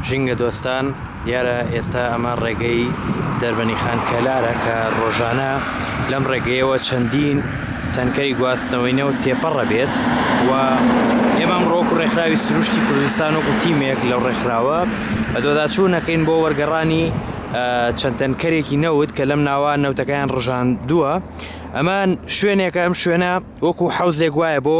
ژینگە دۆستان دیارە ئێستا ئەمە ڕێگەی دەربەنی خان کەلارە کە ڕۆژانە لەم ڕێگەیەوە چەندین تەنکەری گواستنەوەی نەوت تێپەڕە بێت و ئێمەم ڕۆک و ڕێکخراوی سروشتی کوردستان و گوتیمێک لەو ڕێکخراوە بە دۆداچوو نەکەین بۆ وەرگەڕانی چەند تەنکەرێکی نەوت کە لەم ناوە نەوتەکەیان ڕژان دووە ئەمان شوێنێکە ئەم شوێنە وەکو حوزێک وایە بۆ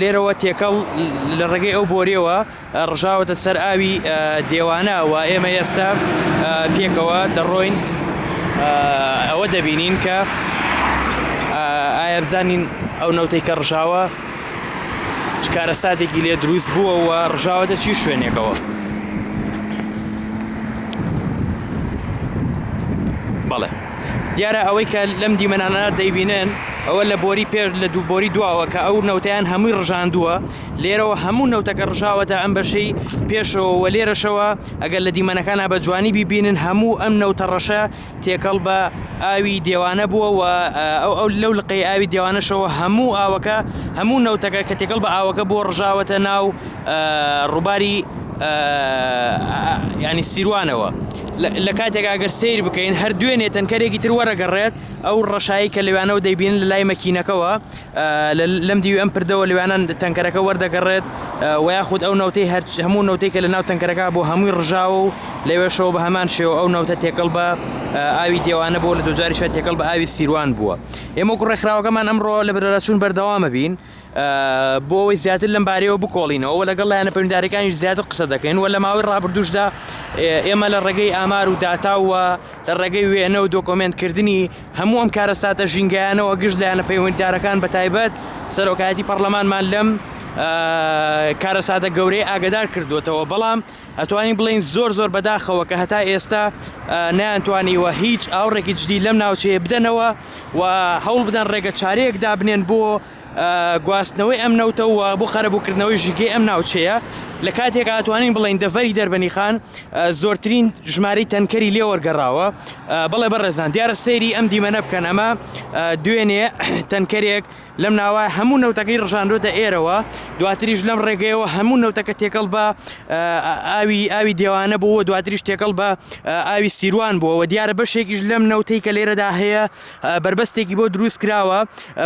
لێرەوە تێکەڵ لە ڕێگەی ئەو بۆریەوە ڕژاوەتە سەر ئاوی دێوانە و ئێمە ئێستا پێکەوە دەڕۆین ئەوە دەبینین کە ئایا بزانین ئەو نەوتەی کە ڕژاوە کارە ساتێکی لێ دروست بووە و ڕژاوەتە چی شوێنێکەوە بەڵێ دیارە ئەوەی کە لەم دیمەنانە دەیبینن ئەوە لە بۆری پێش لە دوو بۆری دواوە کە ئەو نەوتیان هەمووی ڕژاندووە لێرەوە هەموو نەوتەکە ڕژاوەتە ئەم بەشەی پێشەوە لێرەشەوە ئەگەر لە دیمەنەکانە بە جوانی بیبینن هەموو ئەم نەوتە ڕەشە تێکەڵ بە ئاوی دێوانە بووە و ئەو ئەو لەو لقی ئاوی دێوانەشەوە هەموو ئاوەکە هەموو نەوتەکە کە تێکەڵ بە ئاوەکە بۆ ڕژاوەتە ناو ڕووباری ینی سیروانەوە لە کاتێکا گەر سەیر بکەین هەر دوێنێ تەنکەرێکی تر وەرەگەڕێت ئەو ڕەشایی کە لەوانەوە دەیبین لە لای مەکینەکەەوە لەم دیوی ئەم پردەوە لەوانە تەنکەرەکە وەردەگەڕێت و یاخود ئەو نەوتەی هەر هەموو نەوتەی کە لە ناو تەنکەرەکە بۆ هەمووی ڕژاوە و لەوێشەوە بە هەمان شێوە ئەو نەوتە تێکەڵ بە ئاوی دێوانە بۆ لە دوجاریشە تێکەڵ بە ئاوی سیروان بووە ئێمە ڕێکخراوەکەمان ئەمڕۆ لە بەرەچوون بەردەوامە بین. بۆ ئەوەی زیاتر لەم بارەیەوە بکۆڵینەوە و لەگەڵ لایەنە پەیوەندیدارەکانیش زیاتر قسە دەکەین و لە ماوەی ڕابردووشدا ئێمە لە ڕێگەی ئامار و داتا و لە ڕێگەی وێنە و دۆکۆمنتکردنی هەموو ئەم کارەساتە ژینگەیانەوە گشت لایەنە پەیوەندیدارەکان بە تایبەت سەرۆکایەتی پەرلەمانمان لەم کارەساتە گەورەی ئاگدار کردوێتەوە بەڵام ئەتوانین بڵێین زۆر زۆر بەداخەوە کە هەتا ئێستا نەیانتوانیوە هیچ ئاوڕێکی جدی لەم ناوچەیە بدەنەوە و هەوڵ بدەن ڕێگە چارەیەک دابنێن بۆ گواستنەوەی ئەم نەوتەوە بۆ خەرەبووکردنەوەی ژینگەی ئەم ناوچەیە لە کاتێک ئاتوانین بڵین دەڤری دەربەنی خان زۆرترین ژماری تەنکەری لێوەرگەڕاوە بەڵێ بەڕێزان دیارە سەیری ئەم دیمەنە بکەن ئەمە دوێنێ تەنکەرێک لەم ناوە هەموو نەوتەکەی ڕژاندۆتە ئێرەوە دواتریش لەم ڕێگەیەوە هەموو نەوتەکە تێکەڵ بە ئاوی ئاوی دێوانە بووە دواتریش تێکەڵ بە ئاوی سیروان بووەوە دیارە بەشێکیش لەم نەوتەی کە لێرەدا هەیە بربەستێکی بۆ دروست کراوە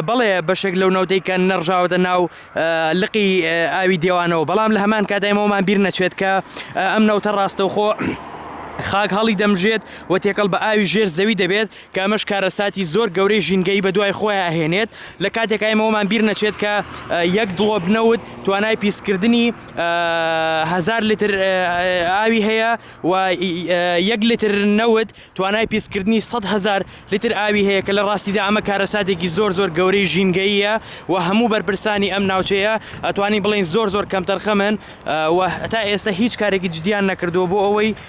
بەڵێ بەشێک لەو نەوتەی کە نەڕژاوەتە ناو لقی ئاوی دێوانەوە بەڵام لە هەمان کاتایمەوەمان بیر نەچێت کە ئەم نەوتە ڕاستەوخۆ خاک هەڵی دەمژێت و تێکەڵ بە ئاوی ژێر زەوی دەبێت کە ئەمەش کارەساتی زۆر گەورەی ژینگەیی بەدوای خۆیا ئەهێنێت، لە کاتێکا ئێمە وەمان بیر نەچێت کە یەک دڵۆپ نەوت توانای پیسکردنی هەزار لیتر ئاوی هەیە و یەک لیتر نەوت توانای پیسکردنی سەد هەزار لیتر ئاوی هەیە کە لە ڕاستیدا ئەمە کارەساتێکی زۆر زۆر گەورەی ژینگەییە و هەموو بەرپرسانی ئەم ناوچەیە ئەتوانین بڵێین زۆر زۆر کەمتەرخەمن و تا ئێستا هیچ کارێکی جدیان نەکردووە بۆ ئەوەی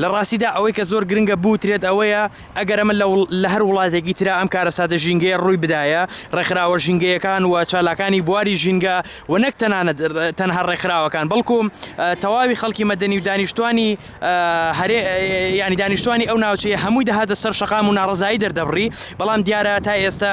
لە ڕاستیدا ئەوەی کە زۆر گرنگە بوترێت ئەوەیە، ئەگەر ئەمە لە لە هەر وڵاتێکی ترا ئەم کارەساتە ژینگەیە ڕووی بدایە، ڕێکخراوە ژینگەیەکان و چالاکانی بواری ژینگە و نەک تەنانەت تەنها ڕێکخراوەکان بەڵکو تەواوی خەڵکی مەدەنی و دانیشتوانی هەرێ یانی دانیشتوانی ئەو ناوچەیە هەمووی دەهاتە سەر شەقام و ناڕەزایی دەردەبڕی، بەڵام دیارە تا ئێستا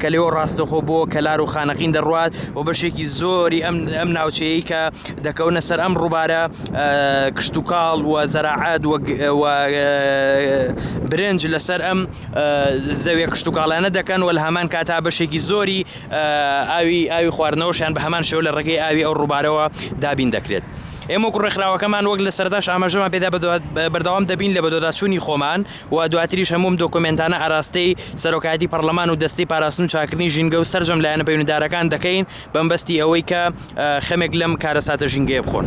کە لێوە ڕاستەخۆ بۆ کەلار و خانەقین دەڕوات و بەشێکی زۆری ئەم ئەم ناوچەیە کە دەکەونە سەر ئەم ڕووبارە کشتتوکاڵ و زەراعات برنج لەسەر ئەم زەوێ کشتتوکاڵانە دەکەن و لە هەمان کاتا بەشێکی زۆری ئاوی ئاوی خواردنەوەشیان بە هەمان شێو لە ڕێگەی ئاوی ئەو ڕووبارەوە دابین دەکرێت. ئێمە وەکو ڕێکخراوەکەمان وەک لە سەرتاش ئاماژەمان پێدا بەردەوام دەبین لە بەدواداچوونی خۆمان و دواتریش هەموو ئەم دۆکۆمێنتانە ئاراستەی سەرۆکایەتی پەڕلەمان و دەستەی پاراستن و چاککردنی ژینگە و سەرجەم لایەنە پەیونەدارەکان دەکەین بەمبەستی ئەوەی کە خەمێک لەم کارەساتە ژینگەیە بخۆن.